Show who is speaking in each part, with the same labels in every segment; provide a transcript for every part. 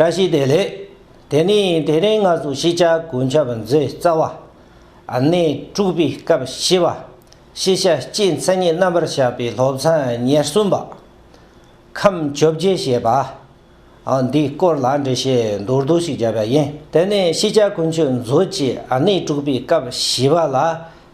Speaker 1: བཀྲ་ཤིས་བདེ་ལེགས། དེ་ནས་དེ་རིང་ང་ཚོ་ཤེས་བྱ་གོ་འཁྱབ་མཛོད་རྩ་བ། གནས་དྲུག་པའི་སྐབས་བཞི་པ། ཤེས་བྱ་སྤྱིའི་མཚན་ཉིད་རྣམ་པར་བཞག་པའི་སློབ་ཚན་ཉེར་གསུམ་པ། ཁམས་བཅོ་བརྒྱད་ཞེས་པ། འདིའི་སྐོར་ལ་འགྲེལ་བཤད་མདོར་བསྡུས་ཤིག་བརྒྱབ་པ་ཡིན། དེ་ནས་ཤེས་བྱ་གོ་འཁྱུད་མཛོད་ཀྱི་གནས་དྲུག་པའི་སྐབས་བཞི་པ་ལ་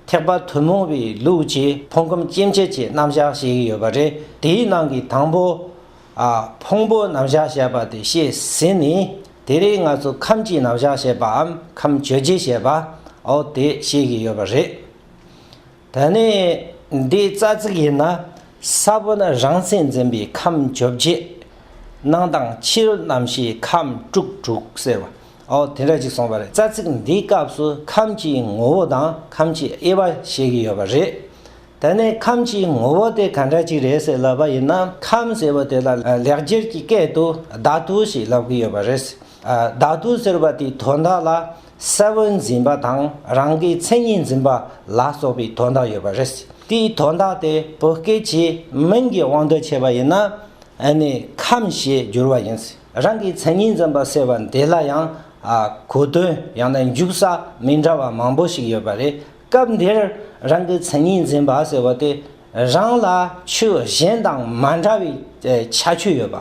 Speaker 1: ཐེག་པ་ཐུན་མོང་བའི་ལུགས་ཀྱི་ཕུང་ཁམས་སྐྱེ་མཆེད་ཀྱི་རྣམ་བཞག་ཞིག་ཡོད་པ་རེད། དེའི་ནང་གི་དང་པོ། ཕུང་པོ་རྣམ་གཞག་བྱེད་པ་དེ་བཤད་ཟིན་ནས་དེ་རིང་ང་ཚོ་ཁམས་ཀྱི་རྣམ་གཞག་བྱེད་པའམ་ཁམས་བརྗོད་བྱེད་བྱེད་པའོ་དེ་བཤད་ཀྱི་ཡོད་པ་རེད། ད་ནི་འདི་རྩ་ཚིག་ཡིན་ན་ས་བོན་རང་མཚན་འཛིན་པའི་ཁམས་བརྗོད་བྱེད་སྣང་དང་ཕྱི་རོལ་རྣམ་ཤེས་ཁམས་དཀྲུགས་དཀྲུག་ཟེར་བའོ་དེ་འདྲ་ཅིག་སོང་བ་རེད་རྩ་ཚིག་འདིའི་སྐབས་སུ་ཁམས་ཀྱི་ངོ་བོ་དང་ཁམས་ཀྱི་དབྱེ་བ་བཤད་ཀྱི་ཡོད་པ་རེད། དེ་ནས་ཁམས་ཀྱི་ངོ་བོ་དེ་ག་འདྲ་ཅིག་རེད་ཟེར་ལབ་པ་ཡིན་ན་ཁམས་ཟེར་བ་དེ་ལ་ལེགས་སྒྱུར་གྱི་སྐད་དུ་བདག་ཏུ་ཞེས་ལབ་ཀྱི་ཡོད་པ་རེད། བདག་ཏུ་ཟེར་བ་དེའི་དོན་དག་ལ་གསལ་བོར་འཛིན་པ་དང་རང་གི་མཚན་ཉིད་འཛིན་པ་ལ་སོགས་པའི་དོན་དག་ཡོད་པ་རེད། དེའི་དོན་དག་དེ་བོད་སྐད་ཀྱི་མིང་གི་དབང་དུ་བྱས་པ་ཡིན་ན་ཁམས་ཞེས་བསྒྱུར་བ་ཡིན། རང་གི་མཚན་ཉིད་འཛིན་པ་ཟེར་བ་འདི་ལ་ཡང་གོ་དོན་ཡང་ན་འཇུག་ས་མི་འདྲ་བ་མང་པོ་ཞིག་ཡོད་པ་རེད། སྐབས་འདིར་རང་གི་མཚན་ཉིད་འཛིན་པ་ཟེར་བ་དེ་རང་ལ་ཆོས་གཞན་དང་མ་འདྲ་བའི་ཁྱད་ཆོས་ཡོད་པ།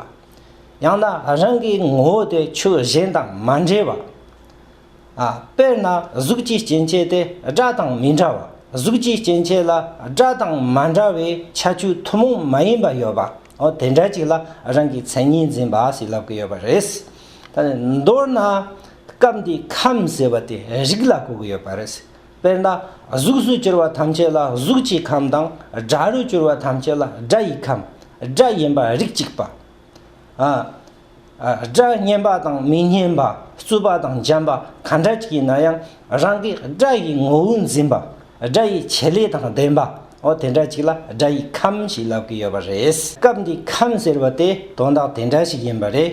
Speaker 1: ཡང་ན་རང་གི་ངོ་བོ་དེ་ཆོས་གཞན་དང་མ་འདྲེས་པ། དཔེར་ན་གཟུགས་ཀྱི་སྐྱེ་མཆེད་དེ་སྒྲ་དང་མི་འདྲ་བ་གཟུགས་ཀྱི་སྐྱེ་མཆེད་ལ་སྒྲ་དང་མ་འདྲ་བའི་ཁྱད་ཆོས་ཐུན་མོང་མ་ཡིན་པ་ཡོད་པ། འོ་དེ་འདྲ་ཅིག་ལ་རང་གི་མཚན་ཉིད་འཛིན་པ་ཞིག་ལབ་ཀི་ཡོད་པ་རེད། ད་ནི་མདོར་ན་སྐབས་འདིའི་ཁམས་ཟེར་བ་དེ་རིགས་ལ་གོ་གི་ཡོད་པ་རེད། དཔེར་ན་གཟུགས་སུ་གྱུར་བ་ཐམས་ཅད་ལ་གཟུགས་ཀྱི་ཁམས་དང་སྒྲ་རུ་གྱུར་བ་ཐམས་ཅད་ལ་སྒྲ་ཡི་ཁམས་སྒྲ་ཡིན་པ་རིགས་གཅིག་པ། སྒྲ་སྙན་པ་དང་མི་སྙན་པ་རྩུབ་པ་དང་འཇམ་པ་ག་འདྲ་ཞིག་ཡིན་ན་ཡང་རང་གི་སྒྲ་ཡི་ངོ་བོ་འཛིན་པ་སྒྲ་ཡི་བྱེད་ལས་དང་ལྡན་པ་འོ་དེ་འདྲ་ཞིག་ལ་སྒྲ་ཡི་ཁམས་ཞེས་ལབ་ཀྱི་ཡོད་པ་རེད། སྐབས་འདིའི་ཁམས་ཟེར་བ་དེ་དོན་དག་དེ་འདྲ་ཞིག་ཡིན་པ་རེད།